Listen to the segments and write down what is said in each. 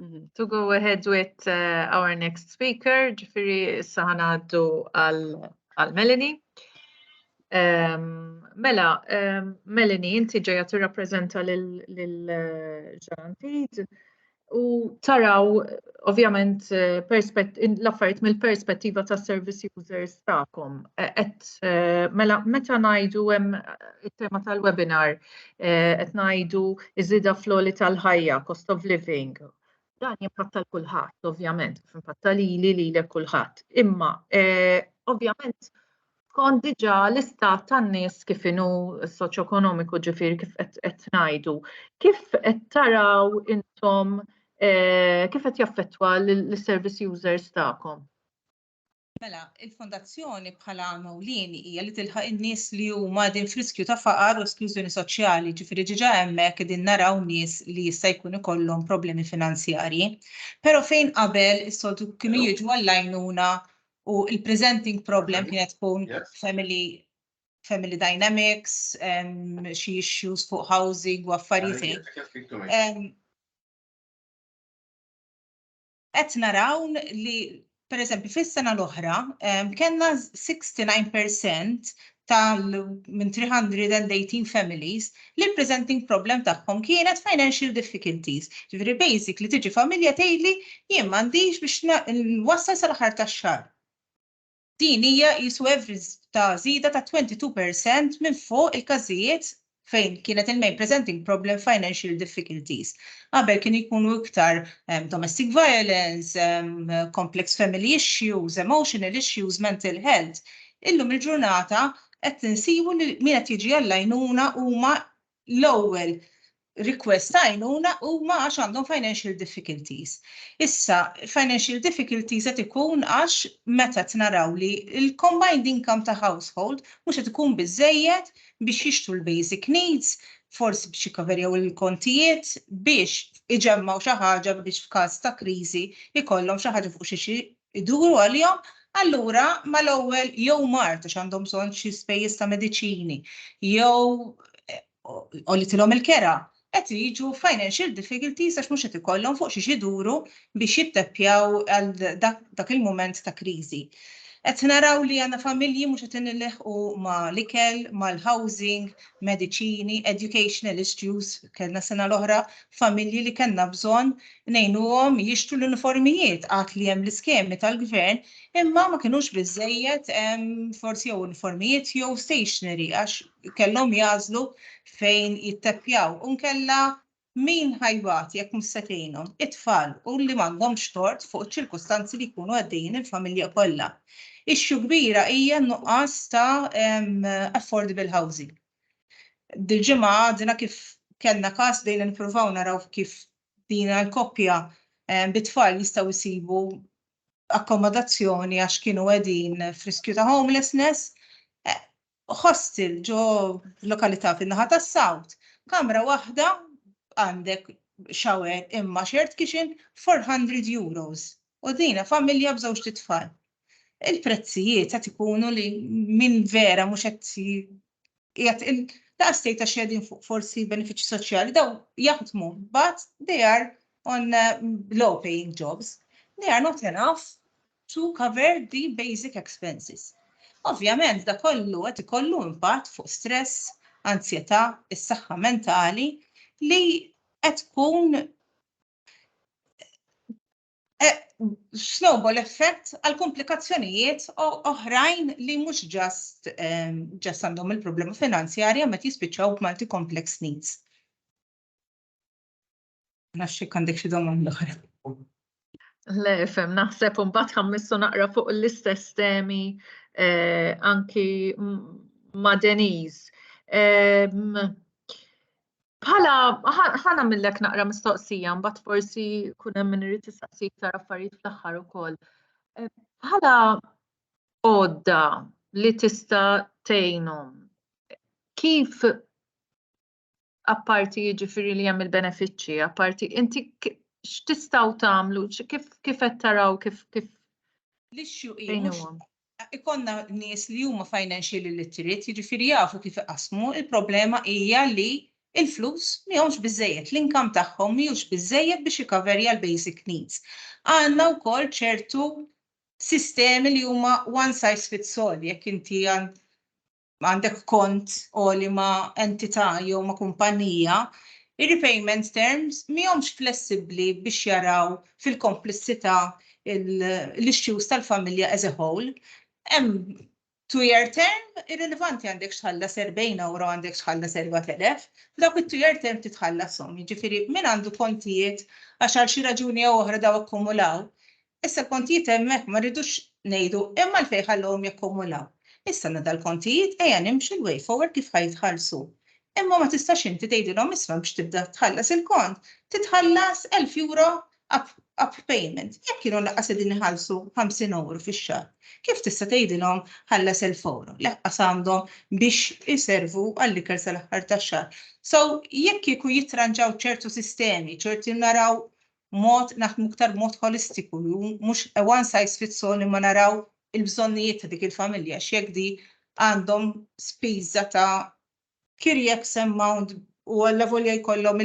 Mhm. To go ahead with uh, our next speaker, ġifiri issa ħanaddu għal Melanie. Um, mela, um, Melanie, inti ġeja tirrappreżenta lil uh, Ġantid u taraw ovvjament uh, l-affarijiet mill-perspettiva ta' service users tagħkom. E, et uh, mela meta ngħidu hemm it-tema tal-webinar, qed ngħidu iżida floli tal-ħajja, cost of living. Dan jimpatta l-kulħadd, ovvjament, kif impatta li li li l kulħadd. Imma, eh, ovvjament, kont diġa l-istat tan-nies kif inhu soċjoekonomiku ġifieri kif qed ngħidu, kif qed taraw intom eh, kif qed jaffettwa l-service users tagħkom? Mela, il-Fondazzjoni bħala għan ewlieni hija li tilħaq in-nies li huma qegħdin f'riskju ta' faqar u esklużjoni soċjali, jiġifieri diġà hemmhekk qegħdin naraw nies li jista' jkun ikollhom problemi finanzjarji. Però fejn qabel is-soltu kienu jiġu għall-għajnuna u l-presenting problem kienet tkun family family dynamics, xi issues fuq housing u affarijiet. qed naraw li pereżempju fis-sena l-oħra kellna 69% tal minn 318 families li l-presenting problem tagħhom kienet financial difficulties. Ġifieri basic li tiġi familja tgħidli jien m'għandix biex nwassal sal-aħħar tax-xahar. Din hija qisu average ta' żieda ta' 22 per cent minn fuq il-każijiet fejn kienet il-main presenting problem financial difficulties. Qabel kienu jkunu iktar domestic violence, complex family issues, emotional issues, mental health. Illum il-ġurnata qed insibu li min qed jiġi għall-għajnuna huma l-ewwel request ta' għajnuna huma għax għandhom financial difficulties. Issa, financial difficulties qed ikun għax meta tnaraw li l-combined income ta' household mhux qed ikun biżejjed biex jixtru l-basic needs, forsi biex jikkaverjaw il-kontijiet, biex iġemmgħu xi ħaġa biex f'każ ta' kriżi jkollhom xi ħaġa fuq xi iduru għalihom, allura mal-ewwel jew mard għax għandhom bżonn xi spejjeż ta' mediċini jew għolitilhom il-kera, qed jiġu financial difficulties għax mhux qed ikollhom fuq xiex iduru biex jitteppjaw għal dak il-mument ta' kriżi. Qed naraw li għandna familji mhux qed nilħqu ma' l-ikel, mal-housing, mediċini, educational issues, kellna sena l-oħra familji li kellna bżonn ngħinuhom jixtru l-uniformijiet għad li hemm l-iskemi tal-Gvern imma ma kinux biżżejjed forsi jew uniformijiet jew stationery għax kellhom jagħżlu fejn jitteppjaw u nkella min ħajbat jekk mhux se tgħinhom? It-tfal u li m'għandhomx tort fuq iċ-ċirkustanzi li jkunu għaddejjin il-familja kollha. Issue kbira hija n-nuqqas ta' affordable housing. Dil-ġimgħa għadna kif kellna każ bdejna nippruvaw naraw kif din il-koppja bit-tfal jistgħu jsibu akkomodazzjoni għax kienu qegħdin friskju ta' homelessness. Hostel ġo lokalità fin-naħa tas-South, kamra waħda għandek shower imma shared kitchen 400 euros. U dina familja b'żewġ titfal. Il-prezzijiet qed ikunu li min vera mhux qed qiegħed in daqs tgħid għax qegħdin fuq forsi benefiċċji soċjali daw jaħdmu but they are on low paying jobs. They are not enough to cover the basic expenses. Ovvjament da kollu qed ikollu impatt fuq stress, anzjetà, is-saħħa mentali li qed tkun eh, snowball effect għal komplikazzjonijiet oħrajn li mhux ġast ehm, ġast għandhom il-problema finanzjarja meta jispiċċaw b'multi complex needs. Naxxi għandek xi domanda oħra. Le, fem, naħseb un bat ħammissu naqra fuq l-istess temi eh, anki ma' Deniz. Ehm, Bħala, ħa nagħmillek naqra mistoqsija, mbagħad forsi kun hemm min irid tistaqsi iktar affarijiet fl-aħħar ukoll. Eh, bħala għodda li tista' tgħinhom, kif apparti jiġifieri li hemm il-benefiċċji, apparti inti x'tistgħu tagħmlu, kif qed taraw kif kif l-issue hi ikollna nies li huma financially literate, jiġifieri jafu kif iqassmu, il-problema hija li l-flus mihomx biżżejjed, l-income tagħhom mhijiex biżżejjed biex jikaverja l-basic needs. Għandna wkoll ċertu sistemi li huma one size fits all, jekk inti għandek kont għoli ma' entità jew ma' kumpanija, ir-repayment terms mihomx flessibbli biex jaraw fil-komplessità l-issues tal-familja as a whole. Hemm two-year term, irrilevanti għandek x'tħallas erbgħin ewro għandek x'tħallas erba' telef, dawk it-two-year term trid tħallashom. Jiġifieri min għandu kontijiet għax għal xi raġuni jew oħra daw akkumulaw, Issa l-kontijiet hemmhekk ma rridux ngħidu hemm għalfejn ħallewhom jakkumulaw. Issa għandna dal-kontijiet ejja nimxu l-way forward kif ħa jitħallsu. Imma ma tistax inti tgħidilhom isma' biex tibda tħallas il-kont titħallas elf euro up up payment jekk kienu laqqas qegħdin iħallsu ħamsin ewro fix-xahar. Kif tista' tgħidilhom ħallas elf ewro? Laqqas għandhom biex iservu għall-ikel sal-aħħar tax-xahar. So jekk kieku jittranġaw ċertu sistemi, ċerti naraw mod naħdmu iktar b'mod ħolistiku u mhux a one size fits all imma naraw il-bżonnijiet ta' dik il-familja x'jekk di għandhom spiża ta' care x amount u allavolja jkollhom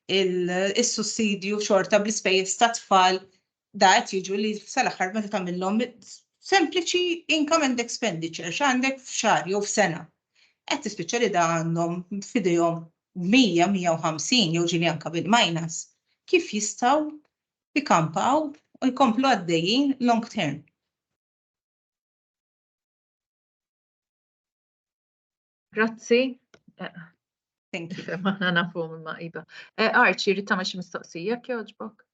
is-sussidju xorta bl-ispejjeż tat-tfal da qed jiġu li sal-aħħar meta tagħmilhom sempliċi income and expenditure x'għandek f'xahar jew f'sena. Qed tispiċċa li da għandhom f'idejhom 100, 150 jew ġieli anke bil-minus, kif jistgħu jkampaw u jkomplu għaddejjin long term. Grazzi. Thank you. Aħna nafu minn ma' iba. Eh, Arċi, rrit tagħmel xi mistoqsija jekk jogħġbok?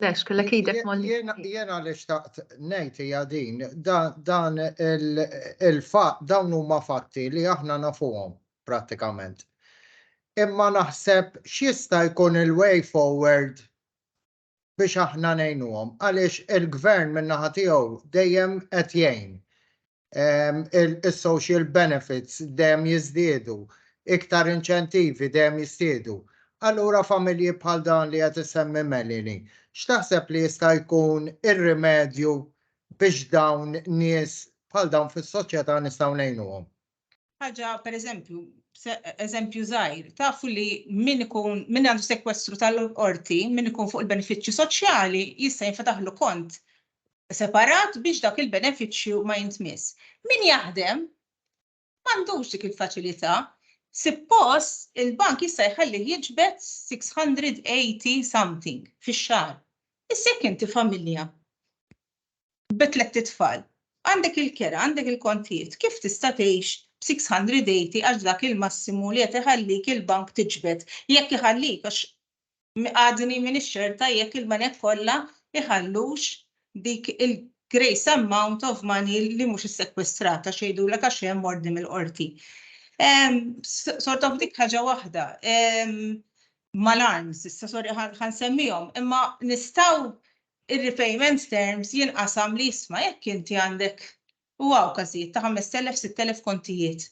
Lex, kellek idek molli. Jien għaliex taqt ngħid hija din dan il-fatt dawn huma fatti li aħna nafuhom prattikament. Imma naħseb x'jista' jkun il-way forward biex aħna ngħinuhom għaliex il-gvern min-naħa tiegħu dejjem qed jgħin. is-social benefits dejjem jiżdiedu, iktar inċentivi dejjem jiżdiedu. Allura familji bħal dan li qed isemmi Melini, x'taħseb li jista' jkun ir-rimedju biex dawn nies bħal dawn fis-soċjetà nistgħu ngħinuhom? ħaġa pereżempju, eżempju żgħir, tafu li min ikun min għandu sekwestru tal-qorti, min ikun fuq il-benefiċċju soċjali jista' jinfetaħlu kont separat biex dak il-benefiċċju ma jintmiss. Min jaħdem m'għandux dik il-faċilità. Suppost il-bank jista' jħalli jiġbed 680 something fix-xahar. Issa jekk inti familja bi tlett itfal. Għandek il-kera, għandek il-kontijiet, kif tista' tgħix b'680 għax dak il-massimu li qed iħallik il-bank tiġbed, jekk iħallik għax għadni m'iniex ċerta jekk il-banek kollha jħallux dik il-grace amount of money li mhux issekwestrata x'jgħidulek għax hemm ordni mill-qorti. Sort of dik ħaġa waħda. Mal-arms, issa sorry ħansemmihom, imma nistgħu ir-repayment terms jinqasam li isma' jekk inti għandek, u hawn każijiet ta' 5,000, 6,000 kontijiet,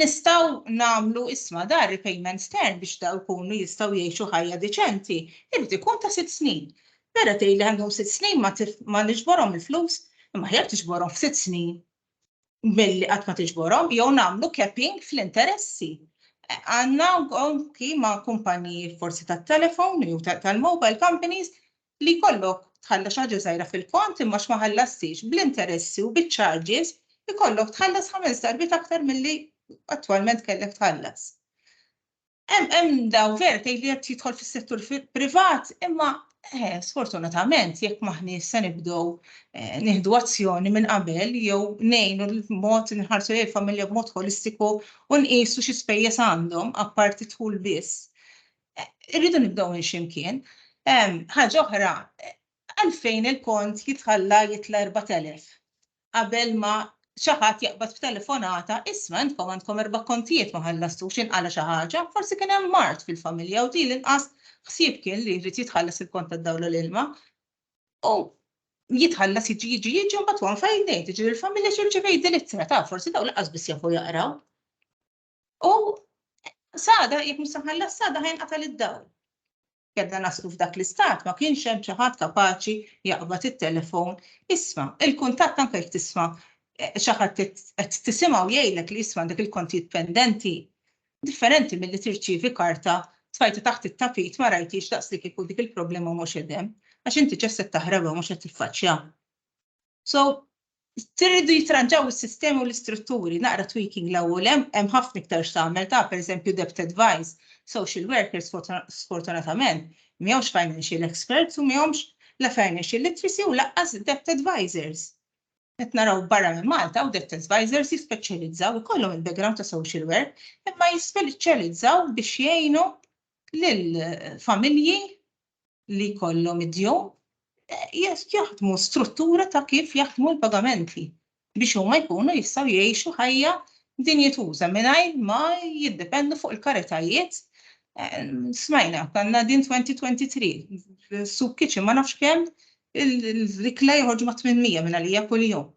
nistgħu nagħmlu isma' dan ir-repayment term biex dawn ikunu jistgħu jgħixu ħajja deċenti jrid ikun ta' sitt snin. Vera tgħidli għandhom sitt snin ma niġborhom il-flus, imma aħjar tiġborhom f'sitt snin milli qatt ma tiġborhom jew nagħmlu capping fl-interessi. Għandna anki ma' kumpaniji forsi tat-telefon jew tal-mobile companies li jkollok tħallas xi ħaġa żgħira fil-kont imma x'ma ħallastix bl-interessi u biċ-charges ikollok tħallas ħames darbiet aktar milli attwalment kellek tħallas. Hemm daw vera tgħid li qed jidħol fis-settur privat, imma eh, sfortunatament jekk maħni se nibdew eh, nieħdu azzjoni minn qabel jew ngħinu l-mod nħarsu lejn familja b'mod holistiku u nqisu xi spejjeż għandhom apparti tħul biss. Eh, irridu nibdew minn ximkien. Ħaġa oħra, għalfejn il-kont jitħalla jitla 4000. qabel ma xi ħadd jaqbad b'telefonata, isma' intkom għandkom erba' kontijiet ma ħallastux inqala xi ħaġa, forsi kien hemm mard fil-familja u din l-inqas ħsieb kien li jrid jitħallas il-kont tad-dawl u l-ilma. U jitħallas jiġi jiġi jiġi mbagħad wan fejn ngħid, jiġri l-familja xi rċivejt din ittra ta' forsi daw laqas biss jafu jaqraw. U sada, jek musaħalla sada ħajn qatal id-dawl. Kedna naslu f'dak l-istat ma kienx hemm xi ħadd kapaċi jaqbad it-telefon. Isma, il-kuntatt anke jekk tisma' eh, xi ħadd qed tisimgħu jgħidlek li jisma' dak il-kontijiet pendenti differenti milli tirċievi karta tfajta taħt it-tapit ma rajtix daqs li kieku dik il-problema mhux edem, għax inti ġesset taħreba mhux qed tiffaċċja. So, Tirridu jitranġaw is-sistemi u l-istrutturi, naqra tweaking l ewwel hemm ħafna iktar x'tagħmel ta' pereżempju debt advice, social workers sfortunatament m'hemmx financial experts u m'hemmx la financial literacy u laqqas debt advisors. Qed naraw barra minn Malta u debt advisors jispeċjalizzaw ikollhom il-background ta' social work imma jispeċjalizzaw biex jgħinu lill familji li jkollhom id-djun jaħdmu struttura ta' kif jaħdmu l-pagamenti biex huma jkunu jistgħu jgħixu ħajja dinjituża mingħajr ma jiddependu fuq il-karitajiet smajna ta' Nadine 2023 soup kitchen ma nafx kemm l-ikla joħorġu ma' 800 minn għalija kuljum.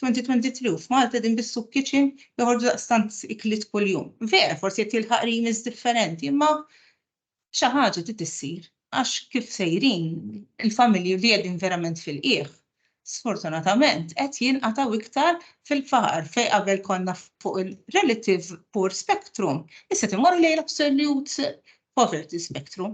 2023 u f'Malta din bis-soup kitchen joħorġu daqstant ikliet kuljum. Vera, forsi qed jilħaq rimis differenti, imma xi ħaġa trid issir għax kif sejrin il-familji li qegħdin verament fil-qiegħ sfortunatament qed jinqatgħu iktar fil-faqar fejn qabel konna fuq il-relative poor spectrum issa qed immorru lejn l-absolute poverty spectrum.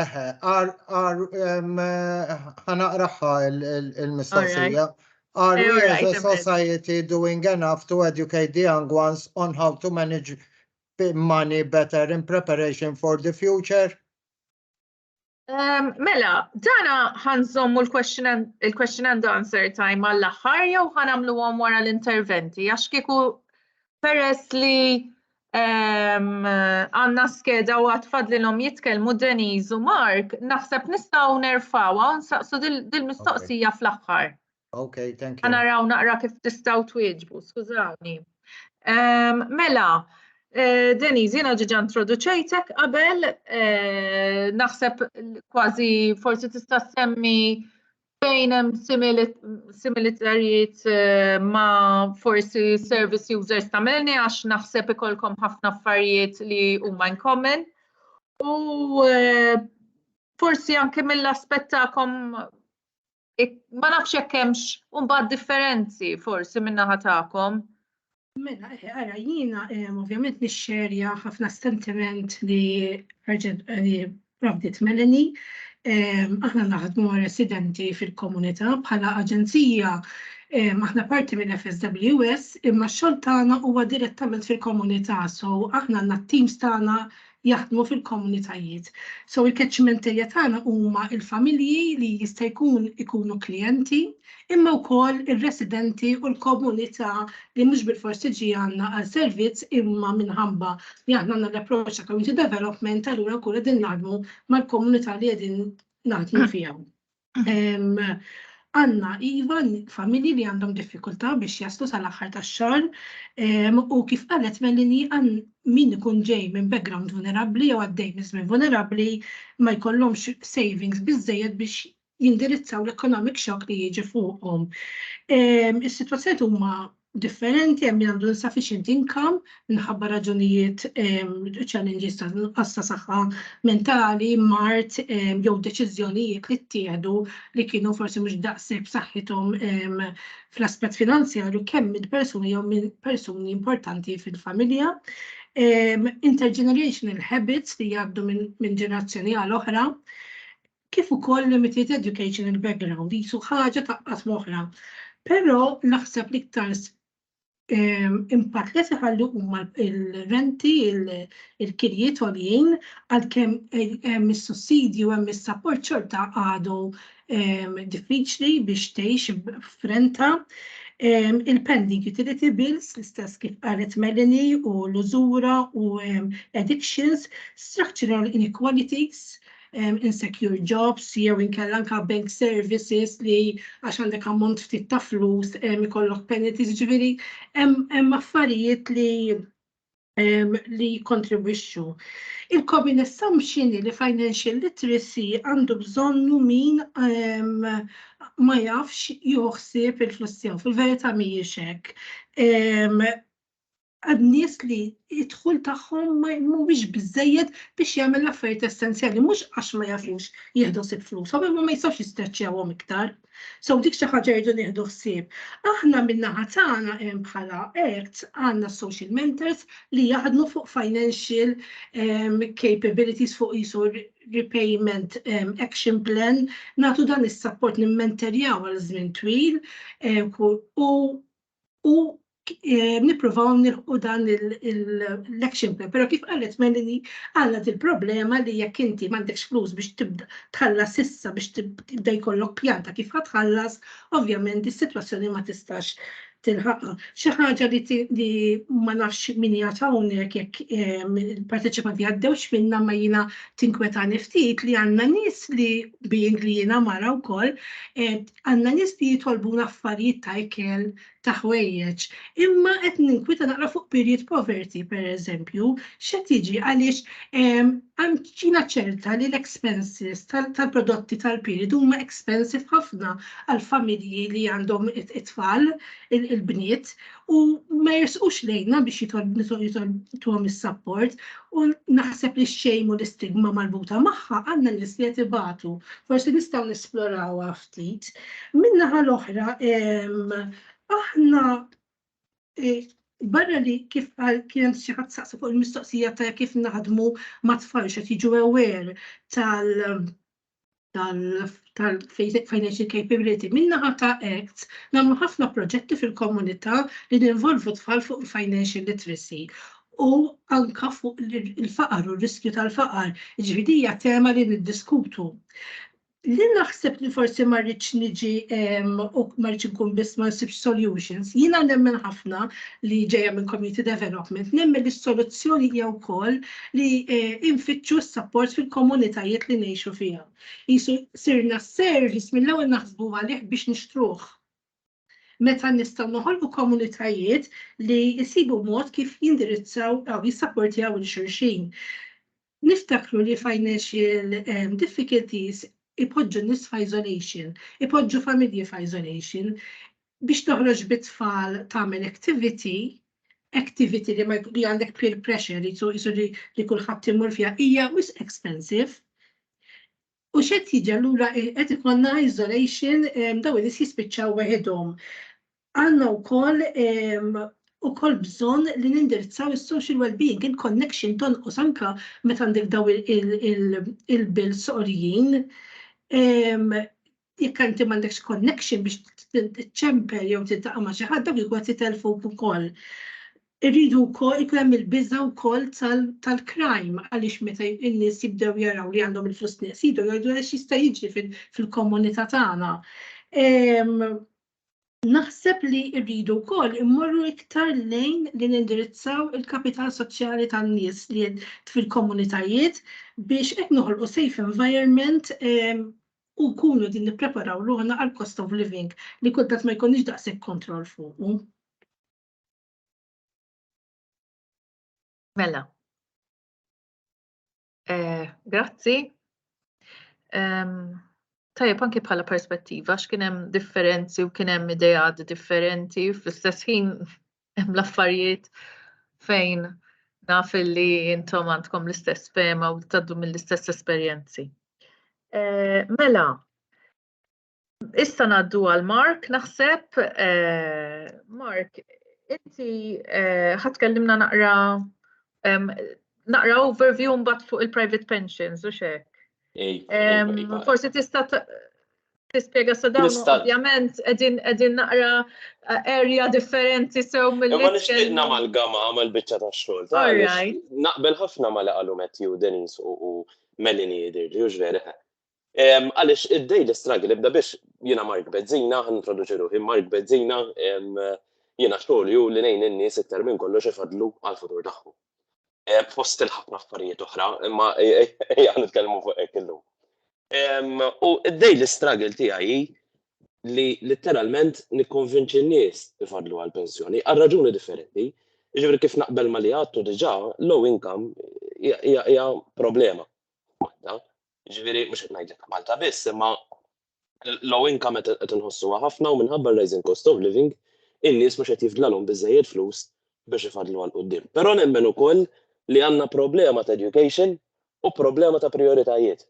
Eħe, ħanaqraħħa il-mistoqsija. Are eh, we as a society doing enough to educate the young ones on how to manage money better in preparation for the future? Um, mela, dana ħanżommu l-question and answer time għall-axħar jew ħanamlu għom wara l-interventi, għax kieku peress li Għanna skeda u għatfad li l-om jitkelmu Deniz u Mark, naħseb nistaw nerfawa un saqsu dil-mistoqsija fl-axħar. Ok, thank you. Għana raw naqra kif tistaw twieġbu, skużawni. Mela, eh, Deniz, jena ġiġa introduċejtek qabel, eh, naħseb kważi forsi tista' semmi fejn hemm similitarjiet eh, ma' forsi service users ta' melni għax naħseb ikolkom ħafna affarijiet li huma in common. U eh, forsi anke mill-aspett tagħkom ma nafx hekk hemmx mbagħad differenzi forsi min-naħa tagħkom. Mela, ara, jiena ovvjament nixxerja ħafna sentiment li provdiet Melanie. Aħna naħdmu residenti fil-komunità bħala aġenzija aħna parti minn FSWS imma x-xogħol tagħna huwa direttament fil-komunità, so aħna għandna t-teams tagħna jaħdmu fil-komunitajiet. So il-catchment area tagħna huma il-familji li jista' jkun ikunu klijenti, imma wkoll ir-residenti u l-komunità li mhux bil-fors tiġi għandna għal servizz imma minħabba li aħna għandna l-approċċ ta' community development allura nkunu qegħdin naħdmu mal-komunità li qegħdin naħdmu fiha. Għanna iva familji li għandhom diffikultà biex jaslu sal-aħħar tax-xahar u kif qalet Melini għan min ikun ġej minn background vulnerabbli jew għaddej minn żmien vulnerabbli ma jkollhomx savings biżejjed biex jindirizzaw l-economic shock li jiġi fuqhom. Is-sitwazzjoni huma differenti, hemm min għandu insufficient income minħabba raġunijiet challenges ta' nuqqas ta' saħħa mentali, mard jew deċiżjonijiet li ttieħdu li kienu forsi mhux daqshekk b'saħħithom fl-aspett finanzjarju kemm minn persuni jew minn persuni importanti fil-familja. Intergenerational habits li jgħaddu minn ġenerazzjoni għal oħra, kif ukoll limited educational background qisu ħaġa taqqat moħħna. Però naħseb l-iktar impatt li seħallu huma il-renti, il-kirjiet għoljin, għalkemm eh, hemm is-sussidju, hemm is-sapport xorta għadu diffiċli biex tgħix f'renta. Il-pending utility bills, l-istess kif qalet Melanie u l-użura u addictions, structural inequalities, um, insecure jobs jew inkella anka bank services li għax għandek ammont ftit ta' flus um, ikollok penalties ġifieri hemm affarijiet li um, li kontribwixxu. Il-common assumption li financial literacy għandu bżonnu min um, ma jafx joħsib il-flussi fil-verità mhijiex hekk. Um, għad nies li id-dħul tagħhom mhuwiex biżejjed biex jagħmel l-affarijiet essenzjali, mhux għax ma jafux jieħdu sib flushom, imma ma jistgħux jistreċċjawhom iktar. So dik xi ħaġa jridu nieħdu ħsieb. Aħna min-naħa tagħna hemm bħala ACT għandna social mentors li jaħdmu fuq financial um, capabilities fuq isu repayment um, action plan, nagħtu dan is-support nimmenterjaw għal żmien twil um, u u eh, nippruvaw nilħu dan l-action plan. Pero kif qalet Melini, għandna il problema li jekk inti m'għandekx flus biex tibda tħallas issa biex tibda jkollok pjanta kif ħatħallas, ovvjament is-sitwazzjoni ma tistax tilħaqqa. Xi ħaġa li ma nafx min hija hawnhekk jekk ehm, il-parteċipanti għaddewx minna ma jiena tinkwetani ftit li għandna nies li being li jiena mara wkoll eh, Għandna nies li jitolbuna affarijiet ta' ikel, ta' ħwejjeġ, imma qed ninkwita naqra fuq period poverty, pereżempju, x'qed jiġi għaliex jiena ċerta li l-expenses tal-prodotti tal-period huma expensive ħafna għall-familji li għandhom it-tfal, il-bniet, u ma jersqux lejna biex jitolbuhom is-sapport u naħseb li xejmu l-istigma marbuta magħha għandna nies li qed ibatu. Forsi nistgħu nesplorawha ftit. Min-naħa l-oħra aħna e, barra li kif għal kien xi ħadd saqsa fuq il-mistoqsija ta' kif naħdmu ma' tfal xed jiġu aware tal- tal-financial capability. Min-naħa ta' ACTS nagħmlu ħafna proġetti fil-komunità li ninvolvu tfal fuq il-financial literacy u anke fuq il-faqar u r-riskju tal-faqar. Jiġifieri din hija tema li niddiskutu. Li naħseb li forsi ma rridx niġi u ma rridx inkun biss ma nsibx solutions, jiena nemmen ħafna li ġejja minn community development, nemmen li s-soluzzjoni hija wkoll li nfittxu s-sapport fil-komunitajiet li ngħixu fiha. Qisu sirna s-service mill-ewwel naħsbu għalih biex nixtruh. Meta nistgħu noħolqu komunitajiet li jsibu mod kif jindirizzaw jew jissapportjaw lil xulxin. Niftakru li financial difficulties ipoġġu n-nies f'isolation, ipoġġu familji f'isolation, Biex toħroġ bit-tfal tagħmel activity, activity li ma li għandek peer pressure li jisu li, li kulħadd imur fiha hija wisq expensive. U xed jiġi allura qed ikonna isolation daw li jispiċċaw weħidhom. Għandna wkoll u kol bżon li nindirizzaw il-social well-being, il-connection ton u sanka meta għandek daw il-bil soqrijin. Jekk inti m'għandekx connection biex tiċċempel jew tiltaqa' ma' xi ħadd dawk ikun qed jitelfuk ukoll. Irridu wkoll ikun hemm il-biża' wkoll tal-crime għaliex meta n-nies jibdew jaraw li għandhom il-flus nieqsin jgħidu għax jista' jiġri fil-komunità tagħna. Naħseb li rridu wkoll immorru iktar lejn li nindirizzaw il-kapital soċjali tan-nies li fil-komunitajiet biex hekk noħolqu safe environment u nkunu din nippreparaw ruħna għal cost of living li kultant ma jkollniex daqshekk kontroll fuqu. Mela. Eh, grazzi. Tajjeb anki bħala perspettiva x'kien hemm differenzi u kien hemm ideat differenti fl-istess ħin hemm l-affarijiet fejn naf li intom għandkom l-istess fema u taddu mill-istess esperjenzi. Eh, mela, Issa naddu għal Mark, naħseb, eh, Mark, inti eh, ħatkellimna naqra naqra overview mbagħad fuq il-private pensions u xek. Forsi tista' tispjega sa dawn ovvjament qegħdin qegħdin naqra eh, area differenti sew mill Ma nixtieq nagħmal gama għamal biċċa ta' xogħol. Naqbel ħafna ma li qalu Matthew Denis u Melanie Dirli u ġveri. Għaliex id-daily struggle ibda biex jiena Mark Bezzina, ħan introduċi ruħi, Mark Bezzina, jiena xogħol ju li nejn in-nies iktar minn kollox ifadlu għall-futur tagħhom. Fost il-ħafna affarijiet oħra, imma ejja nitkellmu fuq hekk illum. U id-daily struggle tiegħi hi li letteralment nikkonvinċi n-nies ifadlu għall-pensjoni għal raġuni differenti. Ġifieri kif naqbel ma li għattu diġà low income hija problema. Jiġifieri mhux qed ngħidlek ta' Malta biss, imma low income qed inħossuha ħafna u minħabba r-rising cost of living, in-nies mhux qed jifdlalhom biżżejjed flus biex ifaddlu għal quddiem. Però nemmen ukoll li għandna problema ta' education u problema ta' prijoritajiet.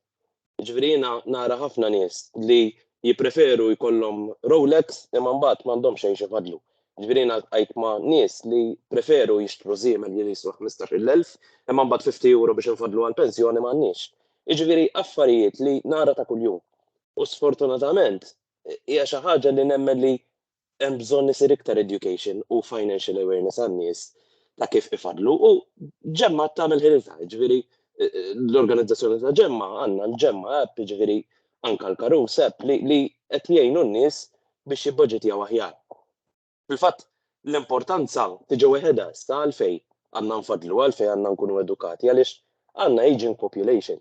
Jiġifieri jiena nara ħafna nies li jippreferu jkollhom Rolex imma mbagħad m'għandhomx xejn x'ifaddlu. Ġifieri jiena ltqajt ma' nies li preferu jixtru żiemel li jiswa 15,000, imma mbagħad 50 euro biex infaddlu għall-pensjoni m'għandniex. Jiġifieri affarijiet li nara ta' kuljum. U sfortunatament hija xi ħaġa li nemmen li hemm bżonn isir iktar education u financial awareness għan-nies ta' kif ifaddlu u Ġemma tagħmel ħilitha, jiġifieri l-organizzazzjoni ta' Ġemma għandna l-Ġemma app jiġifieri anke l-karus app li qed jgħinu n-nies biex jibbaġitjaw aħjar. Fil-fatt, l-importanza tiġi weħedha issa għalfejn għandna nfaddlu, għalfejn għandna nkunu edukati għaliex għandna ageing population.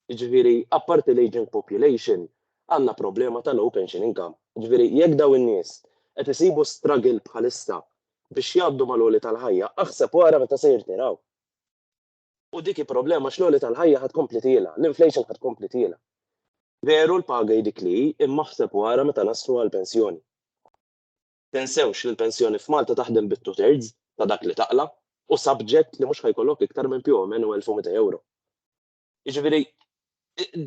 Jiġifieri apparti l-ageing population għandna problema ta' low pension income. Jiġifieri jekk dawn in-nies qed isibu struggle bħalissa biex jgħaddu mal-għoli tal-ħajja, aħseb u ara meta se jirtiraw. U dik hi problema għax l-għoli tal-ħajja ħa tkompli tiela', l-inflation ħa tkompli tiela'. Veru l-paga hi dik li hi, imma aħseb u ara meta naslu għall-pensjoni. Tinsewx li l-pensjoni f'Malta taħdem bi two thirds ta' dak li taqla' u subject li mhux ħa jkollok iktar minn più o meno 1200 ewro. Jiġifieri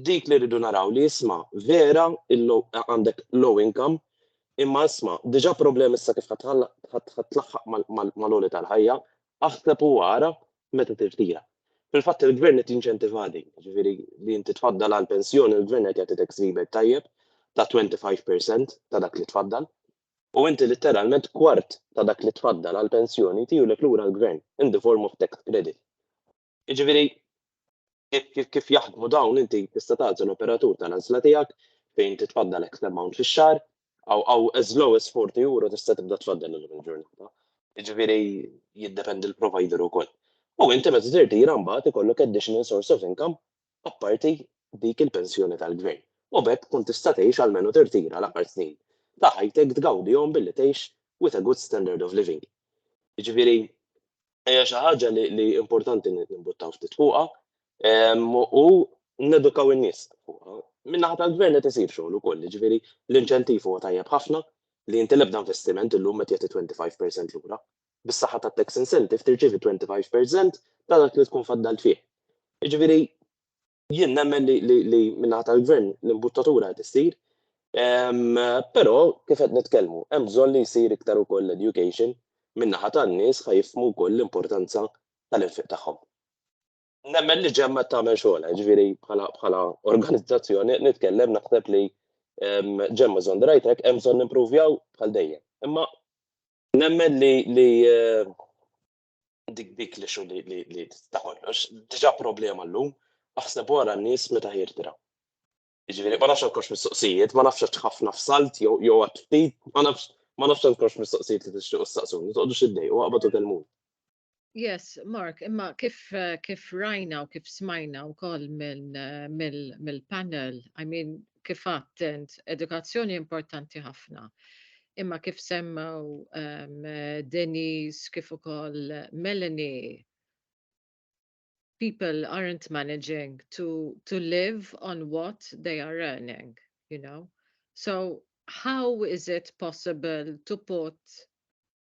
Dik li rridu naraw li isma' vera għandek low income imma isma' diġà problemi issa kif ħadd tlaħħaq mal-għoli tal-ħajja, aħseb u ara meta tirtira. Fil-fatt il-Gvern qed jinċentiva din, jiġifieri li inti tfaddal għal pensjoni l-Gvern qed jagħti tax rebate tajjeb ta' 25 per cent ta' dak li tfaddal u inti litteralment kwart ta' dak li tfaddal għal pensjoni tiegħu lek lura l-Gvern in the form of tax credit. Jiġifieri kif jaħdmu dawn inti tista' tagħżel l-operatur tal-għażla tiegħek fejn titfaddal X amount fix-xahar aw as low as 40 euro tista' tibda tfaddal illum il-ġurnata. Jiġifieri jiddependi l-provider ukoll. U inti meta tirtira mbagħad ikollok additional source of income apparti dik il-pensjoni tal-gvern. U b'hekk tkun tista' tgħix almenu tirtira l-aħħar snin ta' ħajtek tgawdihom billi tgħix with a good standard of living. Jiġifieri Hija xi ħaġa li importanti nimbuttaw ftit fuqha u nedukaw in-nies fuqha. Min-naħa tal-gvern qed isir xogħol ukoll, jiġifieri l-inċentiv huwa tajjeb ħafna li inti l-ebda investiment illum qed jagħti 25% lura. Bis-saħħa tat-tax incentive tirċievi 25% ta' dak li tkun faddalt fih. Jiġifieri jien nemmen li minnaħa tal-gvern l-imbuttatura qed issir, però kif qed nitkellmu, hemm bżonn li jsir iktar ukoll l-education minnaħa tan-nies ħa jifhmu wkoll l-importanza tal-infiq tagħhom. Nemmen li ġemma tagħmel xogħolha, ġifieri bħala organizzazzjoni nitkellem naħseb li ġemma żon rajtek hemm bżonn nimpruvjaw bħal dejjem. Imma nemmen li dik dik li xu li li ta' kollox, diġa problema l-lum, aħseb wara n-nies meta jirtira. Ġifieri ma nafx nkox mistoqsijiet, ma nafx ħafna f'salt jew jew ftit, ma nafx ma nafx nkox mistoqsijiet li tixtiequ saqsuni, toqgħodux iddejqu waqbad u kelmun. Yes, Mark, imma kif kif rajna u kif smajna wkoll mill-panel, I mean, kif għadt int, edukazzjoni importanti ħafna. Imma kif semmew um, Denise, kif ukoll Melanie, people aren't managing to, to live on what they are earning, you know. So how is it possible to put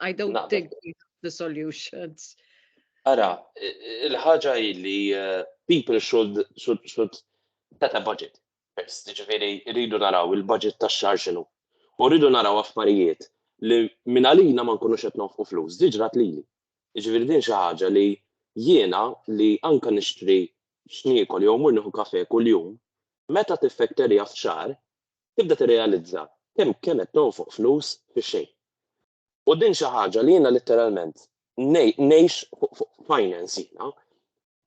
I don't Naqbel. think we have the solutions. Ara, il-ħaġa hi li eh, people should, should, should set a budget. First, ġifiri, rridu naraw il-budget ta' xar xinu. U rridu naraw affarijiet li minn għalina ma nkunux qed nofqu flus, diġrat lili. Ġifiri din xi ħaġa li jiena li anka nixtri x'niekol jew mur nieħu kafe kuljum, meta tiffekterja f'xar, tibda tirrealizza kemm kemm qed tonfoq flus fix-xejn. U din xi ħaġa li jiena litteralment ngħix fuq finance jiena.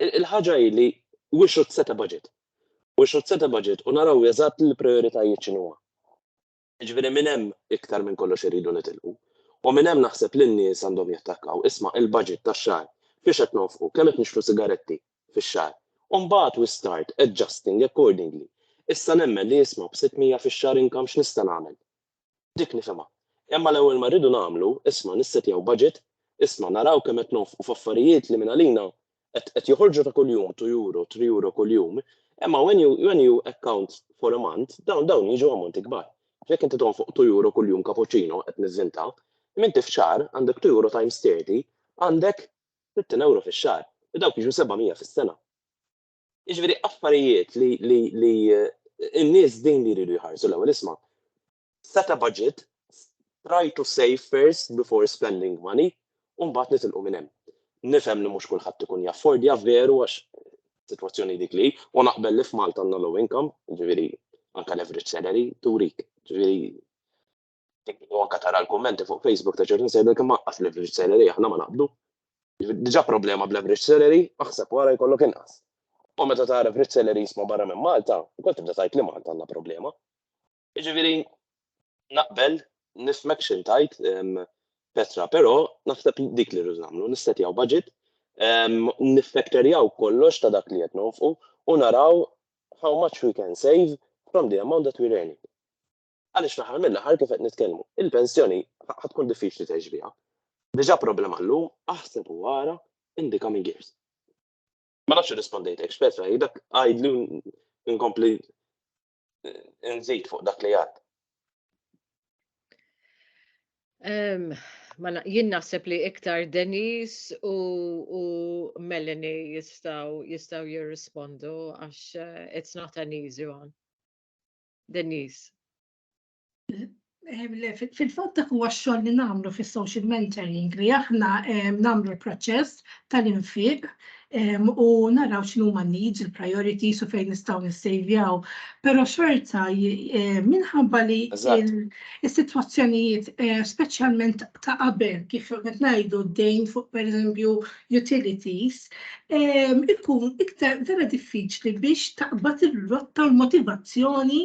Il-ħaġa hi li we should set a budget. We should set a budget u naraw eżatt il-prijoritajiet x'inhuma. Jiġifieri minn hemm iktar minn kollox irridu nitilqu. U minn hemm naħseb li n-nies għandhom jattakkaw, isma' il-budget tax-xahar fiex qed nonfqu, kemm qed nixtru sigaretti, fix-xahar. U mbagħad we start adjusting accordingly. Issa nemmen li jisma' b-600 fix-xahar income x'nista' nagħmel? Dik nifhimha. Imma l-ewwel ma rridu nagħmlu, isma' nissetjaw budget, isma' naraw kemm qed nonfqu f'affarijiet li mingħalina qed qed joħorġu ta' kuljum two euro, three euro kuljum, imma when you when you account for a month dawn dawn jiġu ammonti kbar. Jekk inti tonfoq two euro kuljum cappuccino, qed nivvinta, imma inti f'xahar għandek two euro times thirty, għandek Sittin ewro fix-xahar, u dawk jiġu seba' mija fis-sena. Jiġifieri affarijiet li li li n-nies din li jridu jħarsu l-ewwel isma', set a budget, try to save first before spending money u mbagħad nitilqu minn hemm. Nifhem li mhux kulħadd ikun jaffordja veru għax sitwazzjoni dik li hi, u naqbel li f'Malta għandna low income, jiġifieri anke l-average salary turik, jiġifieri u anke tara l-kummenti fuq Facebook ta' ċertu sejber kemm anqas l-average salary aħna ma naqbdu. Diġà problema bl-average salary, aħseb wara jkollok inqas. U meta tara average salary jisma' barra minn Malta, ukoll tibda tajt li Malta għandna problema. Jiġifieri naqbel nifmek xi tajt Petra, però naħseb dik li rridu nagħmlu, nissetjaw budget, nifekterjaw kollox ta' dak li qed nofqu u naraw how much we can save from the amount that we earning. Għaliex fl-aħħar mill-aħħar kif qed nitkellmu, il-pensjoni ħa tkun diffiċli tgħix biha. Diġà problema llum, aħseb u ara in the coming years. Ma nafx irrispondejtek, Petra, dak għidli nkompli eh, nżid fuq dak li għad. Ma jien naħseb li iktar Denis u, u Melanie jistaw jistaw jirrispondu għax uh, it's not an easy one. Denise. Fil-fatt dak huwa x-xogħol li nagħmlu fis-social mentoring li aħna nagħmlu l-proċess tal-infiq u naraw x'inhu ma needs, il-priorities u fejn nistgħu nissejvjaw. Però xorta minħabba li s-sitwazzjonijiet speċjalment ta' qabel kif qed ngħidu d-dejn fuq pereżempju utilities, ikun iktar vera diffiċli biex taqbad ir-rotta u l-motivazzjoni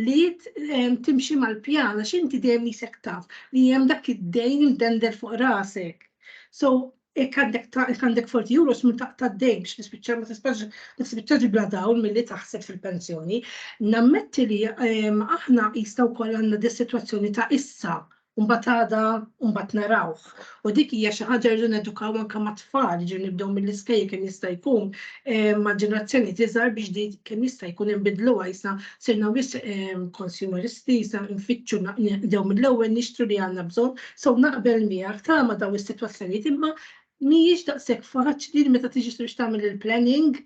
li timxi mal-pjan għax inti dejjem isek taf li hemm dak id-dejn imdendel fuq rasek. So, jekk għandek għandek 40 euros minn taqta' d-dejn biex tispiċċa ma tistax ma tispiċċax bla dawl milli taħseb fil-pensjoni. Nammetti li aħna jistgħu wkoll għandna dis-sitwazzjoni ta' issa u mbagħad għada u mbagħad narawh. U dik hija xi ħaġa rridu nedukaw anke mat-tfal, ġifieri nibdew mill-iskejjel kemm jista' jkun ma' ġenerazzjoni tiżgħar biex din kemm jista' jkun inbidluha issa sirna wis konsumeristi, issa nfittxu nibdew mill-ewwel nixtru li għandna bżonn, so naqbel miegħek tama dawn is-sitwazzjonijiet imma mhijiex daqshekk faċli li meta tiġi biex tagħmel il-planning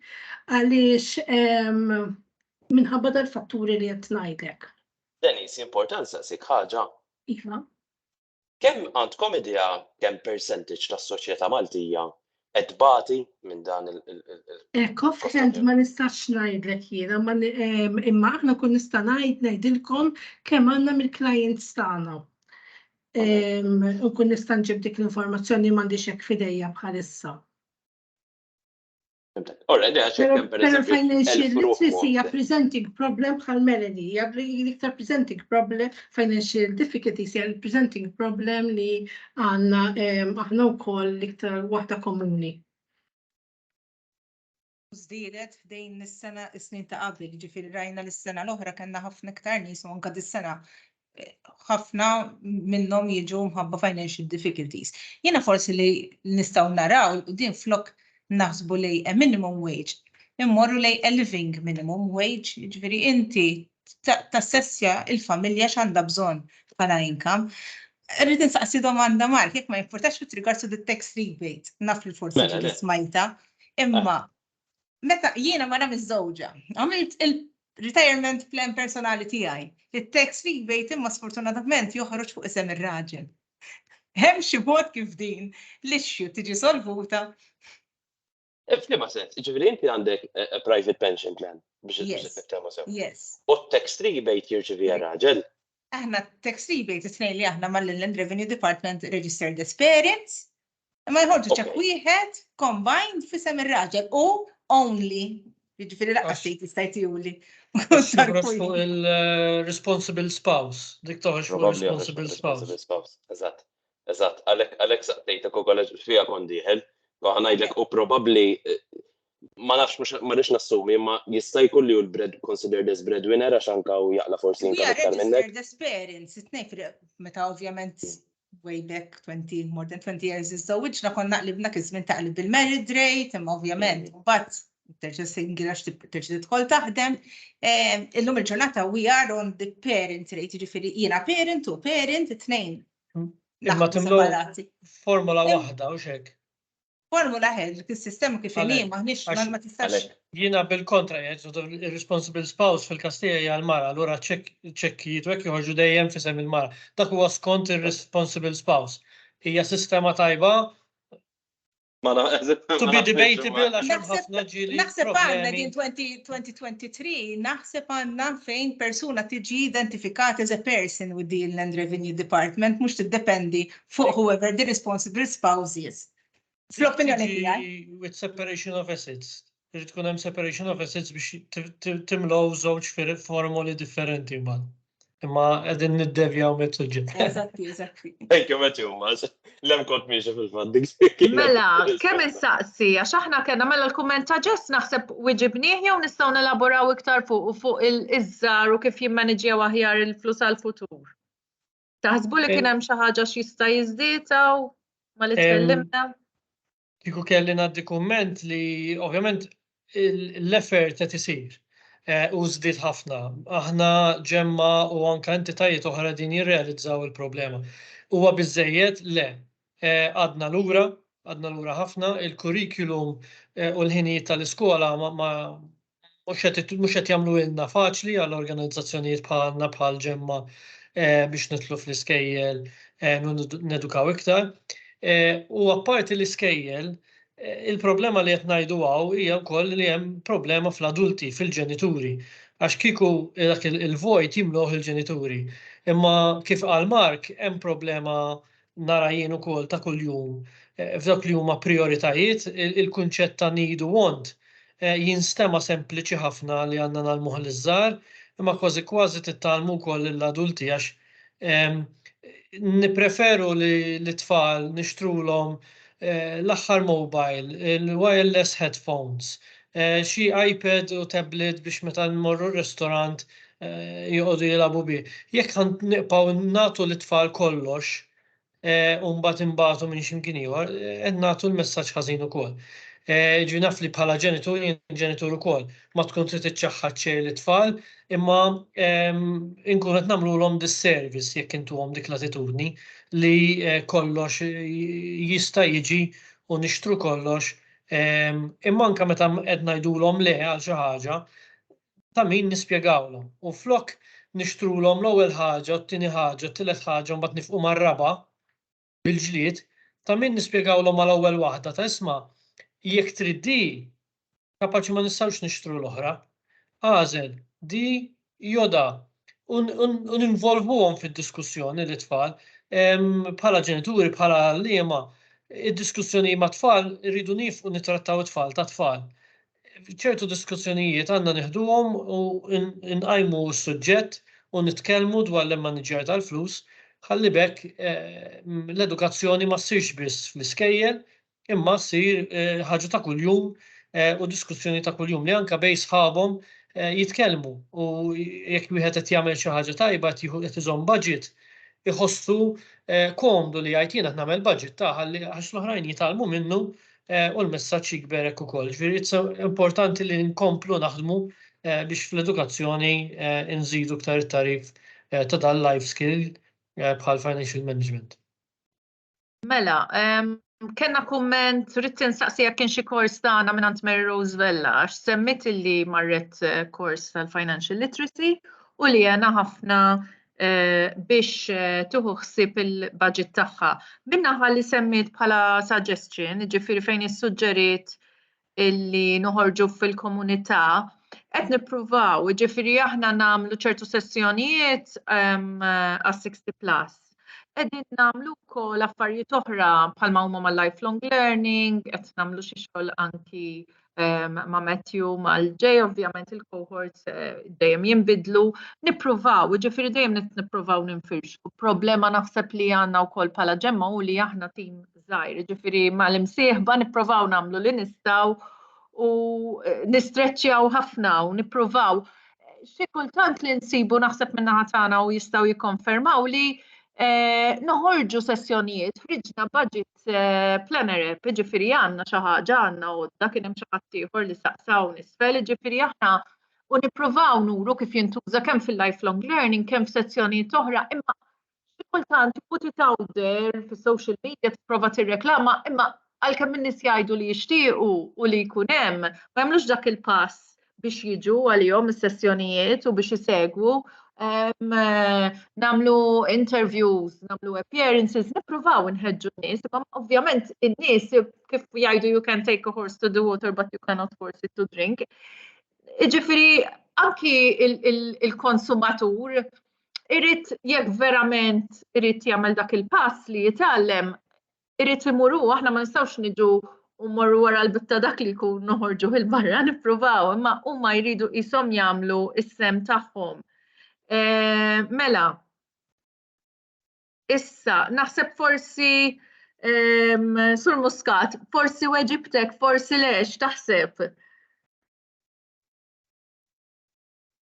għaliex minħabba dal-fatturi li qed ngħidlek. Denise, importa nsaqsik ħaġa? Iva. Kemm għandkom idea kemm percentage tas-soċjeta Maltija qed tbati minn dan il- Hekk offhand ma nistax ngħidlek jiena imma aħna kun nista' ngħid ngħidilkom kemm għandna mill-clients tagħna. U kun nista' nġib dik l-informazzjoni m'għandix hekk f'idejja bħalissa. Ora, le, għax hemm per Pero financial literacy hija presenting problem bħal Melody, hija iktar presenting problem, financial difficulties hija presenting problem li għandna aħna wkoll iktar waħda komuni. Żdiedet f'dejn is-sena is-snin ta' qabel, ġifieri rajna lis-sena l-oħra kellna ħafna iktar nies u anke dis-sena ħafna minnhom jiġu mħabba financial difficulties. Jiena forsi li nistgħu naraw din flok naħsbu li a minimum wage immorru lej a living minimum wage, ġifieri inti tassessja il-familja x'għandha bżonn bħala income. Rrid insaqsi domanda Mark, jekk ma jimpurtax fit rigard to the tax rebate, naf li forsi mela, smajta, imma Meta jiena mara miżżewġa, għamilt il-retirement plan personali tiegħi. It-tax rebate imma sfortunatament joħroġ fuq isem ir-raġel. Hemm xi mod kif din l-issue tiġi solvuta? F'liema sens, ġifieri inti għandek eh, eh, private pension plan biex il-sistema sew. Yes. U tax rebate jirċivi raġel. Aħna tax rebate it-tnejn li aħna mal-Inland Revenue Department Registered Experience Imma jħorġu ċek wieħed combined fisem ir-raġel u only. Jiġifieri laqqa xejn tista' jtiuli. fuq il-responsible eh, spouse, dik toħroġ fuq responsible spouse. Eżatt, eżatt, għalhekk għalhekk saqtejtek ukoll fija kont dieħel, ngħidlek u probabbli eh, ma nafx mhux ma rridx nassumi, imma jista' jkun li hu l-bread considered as breadwinner għax anka u jaqla forsi jinka aktar minnek. Registered parents, it-tnejn fil meta ovvjament way back 20, more than 20 years iż-żewġna konna qlibna kizmin ta' qlib il-married rate, imma ovvjament, mm. but terġa' singira terġa' tidħol taħdem. Ehm, illum il-ġurnata we are on the parent rate, ġifieri jiena parent u parent, it-tnejn. Mm. Imma timlu formula waħda u xek. Formula ħed, is-sistema kif inhi Għalhekk, maħniex għax- ma tistax. għalhekk. Jiena bil-kontra jgħid the responsible spouse fil-Kastija hija l-mara, allura ċek- ċekkijiet u hekk joħorġu dejjem f'isem il-mara. Dak huwa skont ir-responsible spouse. Hija sistema tajba Ma na- to be debatable għax hemm Naħseb- ħafna ġieli Naħseb għandna problemi. din 20 2023, naħseb għandna fejn persuna tiġi identifikata as a person with the Inland Revenue Department, mhux tiddependi fuq whoever the responsible spouse is. Fl-opinjoni tiegħi. With separation of assets. Irid tkun hemm separation of assets biex timlow żewġ formoli differenti ma. Imma qegħdin niddevjaw mit-suġġett. Eżatti, eżatti. Thank you, Matthew, Mas. Lem kont miex fil-fandik. Mela, kemm insaqsi, għax aħna kellna mela l-kumment ta' ġess naħseb wiġibnieh jew nistgħu nelaboraw iktar fuq u fuq il-iżżar u kif jimmaniġjaw aħjar il-flus għal-futur. Taħsbu li kien hemm xi ħaġa x'jista' jiżdietaw ma li tkellimna? Kieku kelli ngħaddi kumment li ovvjament l-effort qed isir eh, u żdied ħafna. Aħna ġemma u anke entitajiet oħra din jirrealizzaw il-problema. Huwa biżejjed le, Għadna lura, għadna lura ħafna. Il-curriculum u l-ħinijiet tal-iskola ma mhux qed jagħmluhilna faċli għal organizzazzjonijiet bħalna bħal ġemma biex nidħlu fl-iskejjel nedukaw iktar. U apparti l-iskejjel, il-problema li qed ngħidu hawn hija wkoll li hemm problema fl-adulti, fil-ġenituri. Għax kieku dak il-vojt jimluh il-ġenituri. Imma kif qal Mark, hemm problema nara jien ukoll ta' kuljum eh, f'dawk li huma prioritajiet, il-kunċett ta' need u want eh, jinstema' sempliċi ħafna li għandna nagħlmuh l żgħar imma kważi kważi tittalmu wkoll lill-adulti għax ehm, nipreferu li l-tfal nixtrulhom eh, l-aħħar mobile, il-wireless headphones, Xi iPad u tablet biex meta jmorru r-ristorant joqogħdu jilagħbu bih. Jekk ħa nibqgħu nagħtu lit-tfal kollox u mbagħad inbagħtu minn x'imkien ieħor, qed nagħtu l-messaġġ ħażin ukoll. Ġifieri naf li bħala ġenitur, jien ġenitur ukoll, ma tkun trid iċċaħħad xejn lit-tfal, imma inkunu qed nagħmlulhom disservice jekk intuhom dik l-attitudni li kollox jista' jiġi u nixtru kollox Imma anke meta qed ngħidulhom le għal xi ħaġa, ta' min nispjegawlhom. U flok nixtrulhom l-ewwel ħaġa, t-tieni ħaġa, t-tielet ħaġa u mbagħad nifqu mar-raba' bil-ġlied, ta' min nispjegawlhom mal-ewwel waħda ta' isma' jekk trid di, kapaċi ma nistgħux nixtru l-oħra. Agħżel di joda u ninvolvuhom fid-diskussjoni li tfal bħala ġenituri bħala liema id-diskussjoni ma' tfal irridu nifqu nitrattaw it-tfal ta' tfal. ċertu diskussjonijiet għandna nieħduhom u nqajmu s-suġġett u nitkellmu dwar l-immaniġġjar tal-flus ħalli bekk eh, l-edukazzjoni ma ssirx biss fl-iskejjel imma ssir ħaġa ta' kuljum u diskussjoni ta' kuljum li anke bejn sħabhom jitkellmu u jekk wieħed qed jagħmel xi ħaġa tajba qed qed iżomm budget iħossu komdu li jgħid jien qed nagħmel budget ta' ħalli għax l-oħrajn jitgħallmu minnu u l-messaġġ jikber hekk ukoll. Ġifieri importanti li nkomplu naħdmu biex fl-edukazzjoni nżidu iktar it-tagħrif ta' dan life skill bħal financial management. Mela, kena kumment, rrit insaqsi jekk kien xi kors tagħna minn Ant Mary Rose Vella, għax semmit li marret eh, kors tal-Financial Literacy u li jena ħafna eh, biex eh, tuħu ħsib il-budget tagħha. Minna li semmit bħala suggestion, ġifiri fejn issuġġeriet illi noħorġu fil-komunità qed nippruvaw, ġifiri aħna nagħmlu ċertu sessjonijiet ehm, għas 60 plus. Qegħdin nagħmlu wkoll affarijiet oħra bħalma huma ma' lifelong learning, qed nagħmlu xi xogħol anki ehm, ma' Matthew mal-ġej, ovvjament il-cohorts eh, dejjem jinbidlu, nippruvaw, ġifiri dejjem nippruvaw ninfirxu. Problema naħseb li għandna wkoll bħala ġemma u li aħna tim żgħir, jiġifieri mal-imsieħba nipprovaw nagħmlu li nistgħu u eh, nistreċċjaw ħafna u nippruvaw. Xi kultant li nsibu naħseb minn naħa tagħna u jistgħu jikkonfermaw li eh, noħorġu sessjonijiet friġna budget eh, planner app, ġifiri għanna xaħġa għanna u da kien hemm xi ħadd ieħor li saqsaw nisfel, ġifiri aħna u nippruvaw nuru kif jintuża kemm fil-lifelong learning, kemm f'sezzjonijiet oħra, imma Xi kultant put it out there fis-social media tipprova tirreklama imma għalkemm in-nies jgħidu li jixtiequ u li jkun hemm, ma jagħmlux dak il-pass biex jiġu għalihom is-sessjonijiet u biex isegwu ehm, namlu interviews, namlu appearances, nippruvaw nħeġġu n-nies, imma ovvjament in-nies kif jgħidu you can take a horse to the water but you cannot force it to drink. Iġifiri, anki il-konsumatur irrit jekk verament irrit jagħmel dak il-pass li jitgħallem, irrit imuru aħna ma nistgħux niġu u morru wara l-bitta dak li jkun noħorġu il-barra nippruvaw, imma huma jridu qishom jagħmlu is-sem tagħhom. E, mela, issa, naħseb forsi um, sur muskat, forsi weġibtek, forsi lex, taħseb.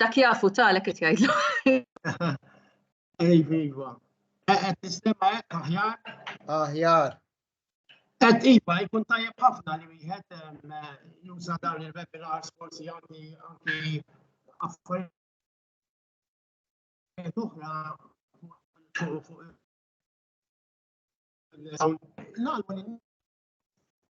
Dak jafu talek qed jgħidlu. Iva, iva. Eh, qed nistema hekk aħjar. Aħjar. Qed iva, jkun tajjeb ħafna li wieħed eh, juża dawn il-webinars forsi anki anki affarijiet oħra fuq l-għalmu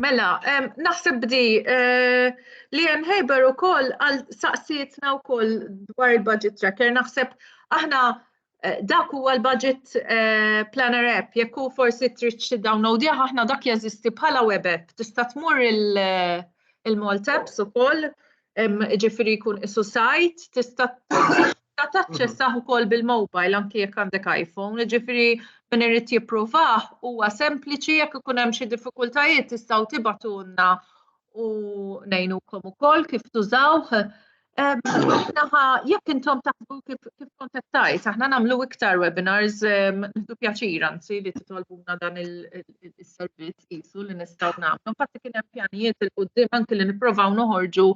Mela, naħseb bdi eh, li hemm ħejber ukoll għal saqsietna wkoll dwar il-budget tracker. Naħseb aħna eh, dak huwa l-budget eh, planner app, jekk hu forsi trid xi download aħna dak jeżisti bħala web app. Tista' tmur il-Maltaps ukoll Ġifiri jkun isu sajt, tista' taċċessah ukoll bil-mobile anki jekk għandek iPhone, ġifiri min irid jippruvah huwa sempliċi jekk ikun hemm xi diffikultajiet tistgħu tibatunna u ngħinukom ukoll kif tużawh. Naħa jekk intom taħbu kif kontattajt, aħna nagħmlu iktar webinars, nħdu pjaċir anzi li titolbuna dan il-tip is-servizz qisu li nistgħu nagħmlu. Infatti kien hemm pjanijiet il qudiem anki li nipprovaw noħorġu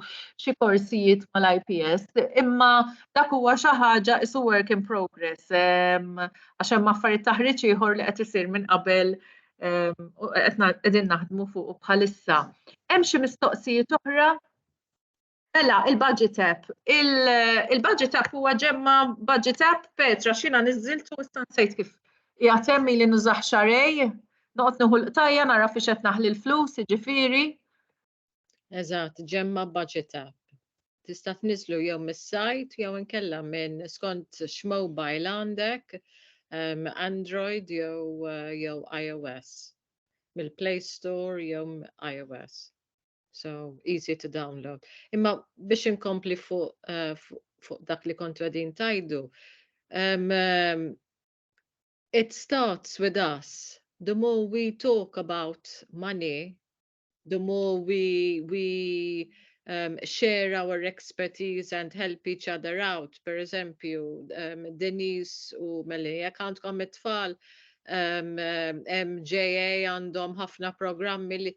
xi korsijiet mal-IPS, imma dak huwa xi ħaġa isu work in progress ehm, għax hemm affarijiet taħriġ ieħor li qed isir minn qabel ehm, qegħdin naħdmu fuq bħalissa. Hemm xi mistoqsijiet oħra Mela, il-budget app. Il-budget app huwa ġemma budget app Petra xina niżiltu issa nsejt kif jgħatemmi li nużaħ xarej, noqgħod nieħu l-qtajja nara fiex qed naħli l-flus, jiġifieri. Eżatt, ġemma budget app. Tista' tniżlu jew mis-sajt jew inkella minn skont x'mobile għandek, ehm, Android jew eh, iOS, mill-Play Store jew iOS. So, easy to download. Imma biex inkompli fuq uh, fu, fu dak li kontra din tajdu, um, um, it starts with us. The more we talk about money, the more we, we um, share our expertise and help each other out. Per eżempju, um, Denise u Meli, jek għandkom it-tfal, um, um, MJA għandhom ħafna programmi li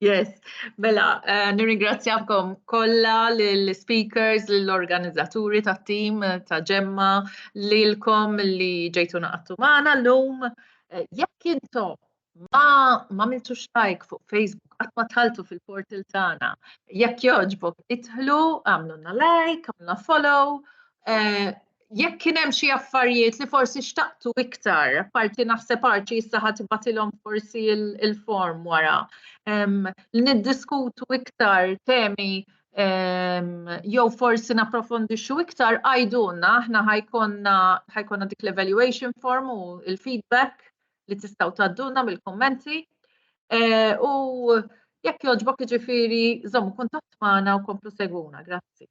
Yes, mela, eh, nirringrazzjakom kollha lill-speakers, lill-organizzaturi tat tim eh, ta' ġemma, lilkom li ġejtu naqattu magħna llum. Eh, jekk intom ma ma miltu xtajk fuq Facebook, qatt ma tħaltu fil-portal tagħna. Jekk jogħġbok, idħlu, għamlulna like, għamlulna follow, jekk kien hemm xi affarijiet li forsi xtaqtu iktar, parti naħseb arċi issa ħadd ibatilhom forsi il-form wara. Li niddiskutu iktar temi jew forsi napprofondixxu iktar għajdunna aħna ħajkonna ħajkonna dik l-evaluation form u il-feedback li tistgħu tadduna mill-kummenti. E, u jekk joġbok iġifieri żommu kuntatt magħna u komplu segwuna. Grazzi.